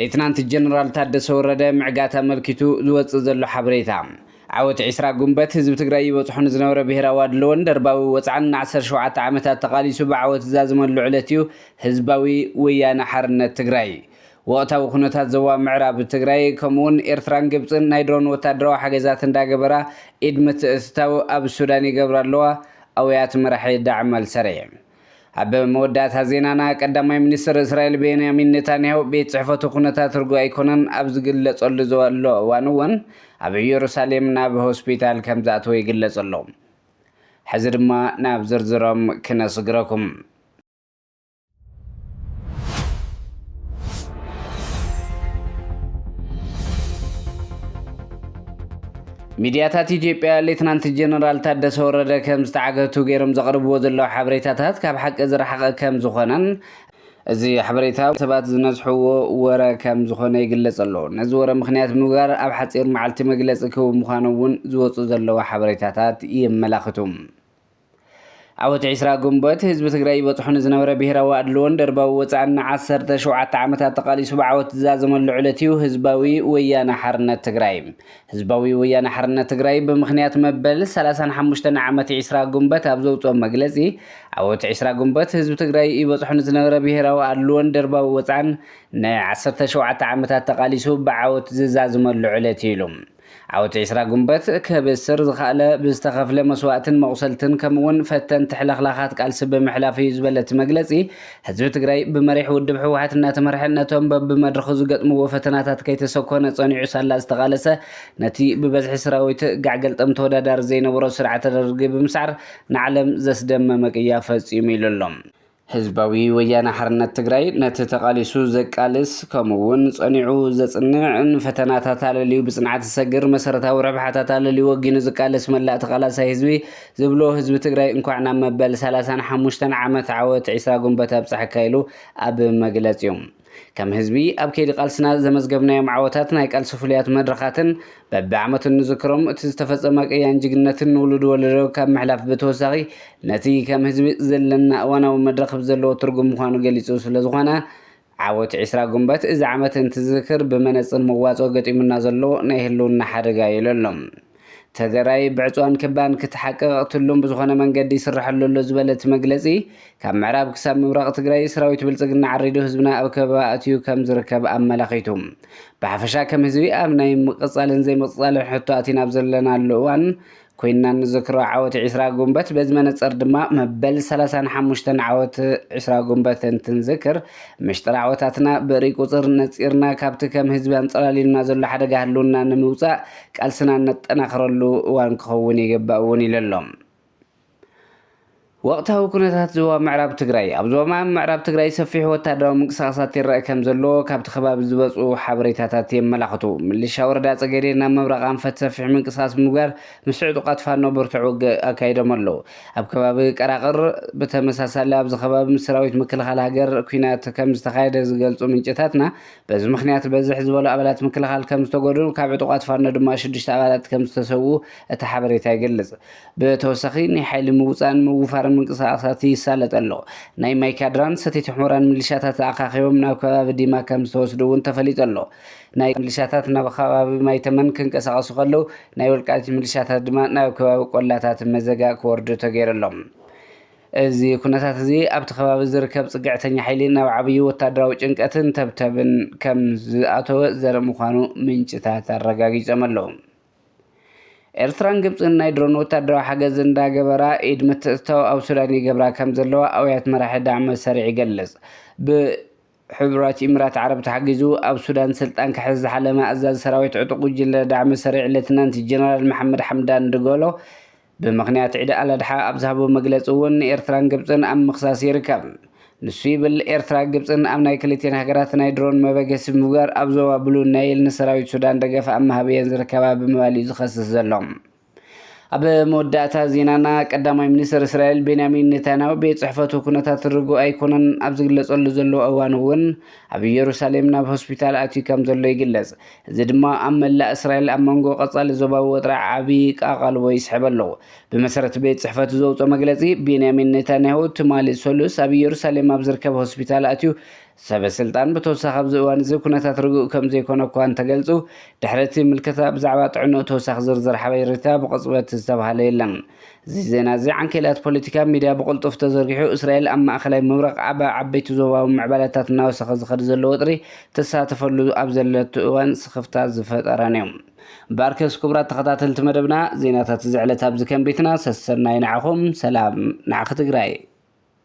ሌትናንት ጀነራል ታደሰ ወረደ ምዕጋት ኣመልኪቱ ዝወፅእ ዘሎ ሓበሬታ ዓወት ዒስራ ጉንበት ህዝቢ ትግራይ ይበፅሖ ንዝነበረ ብሄራዊ ኣድለዎን ደርባዊ ወፅዓን ን17 ዓመታት ተቓሊሱ ብዓወት ዝዛዝመሉ ዕለት እዩ ህዝባዊ ወያነ ሓርነት ትግራይ ወቕታዊ ኩነታት ዞባ ምዕራብ ትግራይ ከምኡውን ኤርትራን ግብጽን ናይ ድሮን ወታደራዊ ሓገዛት እንዳገበራ ኢድ ምትእትታው ኣብ ሱዳን ይገብራ ኣለዋ ኣውያት መራሒ ዳዕም ኣልሰሬ። ኣብ መወዳእታ ዜናና ቀዳማይ ሚኒስትር እስራኤል ቤንያሚን ኔታንያሁ ቤት ጽሕፈቱ ኩነታት ርጉእ ኣይኮነን ኣብ ዝግለጸሉ ዘሎ እዋን እውን ኣብ ኢየሩሳሌም ናብ ሆስፒታል ከም ዝኣተወ ይግለጽ ኣሎ። ሕዚ ድማ ናብ ዝርዝሮም ክነስግረኩም። ሚድያታት ኢትዮጵያ ሌትናንት ጀነራል ታደሰ ወረደ ከም ዝተዓገቱ ገይሮም ዘቕርብዎ ዘለዉ ሓበሬታታት ካብ ሓቂ ዝረሓቐ ከም ዝኾነን እዚ ሓበሬታ ሰባት ዝነዝሕዎ ወረ ከም ዝኾነ ይግለጽ ኣሎ። ነዚ ወረ ምክንያት ብምግባር ኣብ ሓጺር መዓልቲ መግለጺ ክህቡ ምዃኖም እውን ዝወጹ ዘለዉ ሓበሬታታት የመላኽቱ። ዓወት ዒስራ ግንቦት ህዝቢ ትግራይ ይበፅሖ ንዝነበረ ብሄራዊ ኣድልዎን ደርባዊ ወፃእን ንዓሰርተ ሸውዓተ ዓመታት ተቓሊሱ ብዓወት ዝዛዘመሉ ዕለት እዩ ህዝባዊ ወያነ ሓርነት ትግራይ። ህዝባዊ ወያነ ሓርነት ትግራይ ብምኽንያት መበል ሰላሳን ሓሙሽተን ዓመት ዒስራ ግንቦት ኣብ ዘውፅኦ መግለፂ ዓወት ዒስራ ግንቦት ህዝቢ ትግራይ ይበፅሖ ንዝነበረ ብሄራዊ ኣድልዎን ደርባዊ ወፃእን ንዓሰርተ ሸውዓተ ዓመታት ተቓሊሱ ብዓወት ዝዛዝመሉ ዕለት እዩ ኢሉ። ዓወት ዕስራ ጉንበት ከብስር ዝኸኣለ ብዝተኸፍለ መስዋእትን መቑሰልትን ከምኡ'ውን ፈተንቲ ሕልኽላኻት ቃልሲ ብምሕላፍ እዩ ዝበለ እቲ መግለጺ፣ ህዝቢ ትግራይ ብመሪሕ ውድብ ህወሓት እናተመርሐ ነቶም በብመድረኹ ዝገጥምዎ ፈተናታት ከይተሰኮነ ጸኒዑ ሳላ ዝተቓለሰ ነቲ ብበዝሒ ስራዊት ጋዕገልጠም ተወዳዳሪ ዘይነበሮ ስርዓተ ደርጊ ብምስዓር ንዓለም ዘስደመመ ቅያ ፈጺሙ ኢሉ ኣሎ። ህዝባዊ ወያነ ሓርነት ትግራይ ነቲ ተቓሊሱ ዘቃልስ ከምኡ እውን ጸኒዑ ዘጽንዕ ንፈተናታት ኣለልዩ ብጽንዓት ዝሰግር መሰረታዊ ረብሓታት ኣለልዩ ወጊኑ ዝቃለስ መላእ ተቓላሳይ ህዝቢ ዝብሎ ህዝቢ ትግራይ እንኳዕ ናብ መበል ሰላሳን ሓሙሽተን ዓመት ዓወት ዒስራ ግንቦት ኣብጽሓካ ኢሉ ኣብ መግለጺኡ ከም ህዝቢ ኣብ ከይዲ ቃልስና ዘመዝገብናዮም ዓወታት ናይ ቃልሲ ፍሉያት መድረኻትን በቢ ዓመቱ እንዝክሮም እቲ ዝተፈፀመ ቅያን ጅግንነትን ንውሉድ ወለዶ ካብ ምሕላፍ ብተወሳኺ ነቲ ከም ህዝቢ ዘለና እዋናዊ መድረኽ ብዘለዎ ትርጉም ምዃኑ ገሊፁ ስለዝኾነ ዓወት ዕስራ ጉንበት እዚ ዓመት እንትዝክር ብመነፅር መዋፅኦ ገጢሙና ዘሎ ናይ ህልውና ሓደጋ እዩ ኢሉ ኣሎ። ተገራይ ብዕፅዋን ክባን ክትሓቅቕ ትሉም ብዝኾነ መንገዲ ይስራሐሉ ኣሎ ዝበለ እቲ መግለፂ፣ ካብ ምዕራብ ክሳብ ምብራቕ ትግራይ ሰራዊት ብልፅግና ዓሪዱ ህዝብና ኣብ ከበባ ኣእትዩ ከምዝርከብ ኣመላኺቱ። ብሓፈሻ ከም ህዝቢ ኣብ ናይ ምቕፃልን ዘይምቕፃልን ሕቶ ኣቲና ኣብ ዘለናሉ እዋን ኮይንና እንዝክሮ ዓወት ዒስራ ጉንበት በዚ መነፀር ድማ መበል ሰላሳን ሓሙሽተን ዓወት ዒስራ ጉንበት እንትንዝክር ምሽጥር ዓወታትና ብእርይ ቁፅር ነፂርና ካብቲ ከም ህዝቢ ኣንፀላልዩና ዘሎ ሓደጋ ህልውና ንምውፃእ ቃልስና እነጠናኽረሉ እዋን ክኸውን ይግባእ እውን ኢሉ ኣሎ። ወቕታዊ ኩነታት ዞባ ምዕራብ ትግራይ፣ ኣብ ዞባ ምዕራብ ትግራይ ሰፊሕ ወታደራዊ ምንቅስቓሳት ይረኣ ከምዘሎ ካብቲ ከባቢ ዝበፅኡ ሓበሬታታት የመላኽቱ። ምልሻ ወረዳ ፀገዴ ናብ ምብራቕ ኣንፈት ሰፊሕ ምንቅስቓስ ብምግባር ምስ ዕጡቓት ፋኖ ብርቱዕ ውግእ ኣካይዶም ኣለው። ኣብ ከባቢ ቀራቕር ብተመሳሳሊ ኣብዚ ከባቢ ምስ ሰራዊት ምክልኻል ሃገር ኲናት ከምዝተኻየደ ዝገልፁ ምንጭታትና፣ በዚ ምኽንያት በዝሕ ዝበሉ ኣባላት ምክልኻል ከም ዝተጎድኡን ካብ ዕጡቓት ፋኖ ድማ ሽዱሽተ ኣባላት ከም ዝተሰውኡ እቲ ሓበሬታ ይገልጽ። ብተወሳኺ ናይ ሓይሊ ምውጻእን ምውፋርን ምንቅስቓሳት ይሳለጥ ኣሎ። ናይ ማይካድራን ሰቲት ሑመራን ምልሻታት ተኣኻኺቦም ናብ ከባቢ ዲማ ከም ዝተወስዱ እውን ተፈሊጡ ኣሎ። ናይ ምልሻታት ናብ ኸባቢ ማይተመን ክንቀሳቐሱ ከለው ናይ ወልቃይት ምልሻታት ድማ ናብ ከባቢ ቆላታት መዘጋ ክወርዱ ተገይሩ ኣሎ። እዚ ኩነታት'ዚ ኣብቲ ከባቢ ዝርከብ ጽግዕተኛ ሓይሊ ናብ ዓብዩ ወታደራዊ ጭንቀትን ተብተብን ከም ዝኣተወ ዘርኢ ምዃኑ ምንጭታት ኣረጋጊጸም ኣለዉ። ኤርትራን ግብጽን ናይ ድሮን ወታደራዊ ሓገዝ እንዳገበራ ኢድ ምትእትታው ኣብ ሱዳን ይገብራ ከም ዘለዋ ኣውያት መራሒ ዳዕመ ሰሪዕ ይገልጽ። ብ ሕቡራት ኢምራት ዓረብ ተሓጊዙ ኣብ ሱዳን ስልጣን ክሕዝ ዝሓለመ ኣዛዚ ሰራዊት ዕጡቕ ጉጅለ ዳዕመ ሰሪዕ ሌተናንት ጀነራል መሓመድ ሓምዳን ድገሎ፣ ብምኽንያት ዒድ ኣልኣድሓ ኣብ ዝሃቦ መግለፂ እውን ንኤርትራን ግብፅን ኣብ ምኽሳስ ይርከብ። ንሱ ይብል ኤርትራ ግብፅን ኣብ ናይ ክልቲኤን ሃገራት ናይ ድሮን መበገሲ ብምግባር ኣብ ዞባ ብሉ ናይል ንሰራዊት ሱዳን ደገፍ ኣብ ምሃብ እየን ዝርከባ ብምባል እዩ ዝኸስስ ዘሎ። ኣብ መወዳእታ ዜናና ቀዳማይ ሚኒስትር እስራኤል ቤንያሚን ኔታንያሁ ቤት ጽሕፈቱ ኩነታት ርጉእ ኣይኮነን ኣብ ዝግለጸሉ ዘሎ እዋን እውን ኣብ ኢየሩሳሌም ናብ ሆስፒታል ኣትዩ ከም ዘሎ ይግለጽ። እዚ ድማ ኣብ መላእ እስራኤል ኣብ መንጎ ቀጻሊ ዞባዊ ወጥሪ ዓቢ ኣቓልቦ ይስሕብ ኣሎ። ብመሰረት ቤት ጽሕፈቱ ዘውጽኦ መግለጺ፣ ቤንያሚን ኔታንያሁ ትማሊ ሰሉስ ኣብ ኢየሩሳሌም ኣብ ዝርከብ ሆስፒታል ኣትዩ ሰበ ስልጣን ብተወሳኺ ኣብዚ እዋን እዚ ኩነታት ርጉእ ከም ዘይኮነ እኳ እንተገልጹ፣ ድሕሪ እቲ ምልከታ ብዛዕባ ጥዕንኡ ተወሳኺ ዝርዝር ሓበሬታ ብቕጽበት ዝተብሃለ የለን። እዚ ዜና እዚ ዓንኬላት ፖለቲካ ሚድያ ብቕልጡፍ ተዘርጊሑ እስራኤል ኣብ ማእኸላይ ምብራቕ ኣብ ዓበይቲ ዞባዊ ምዕባለታት እናወሰኸ ዝኸድ ዘሎ ወጥሪ ትሳተፈሉ ኣብ ዘለቱ እዋን ስኽፍታ ዝፈጠረን እዩ። እምበኣርከስ ክቡራት ተኸታተልቲ መደብና ዜናታት እዚ ዕለት ኣብዚ ከም ቤትና ሰሰናዩ ንዓኹም ሰላም ንዓኺ ትግራይ።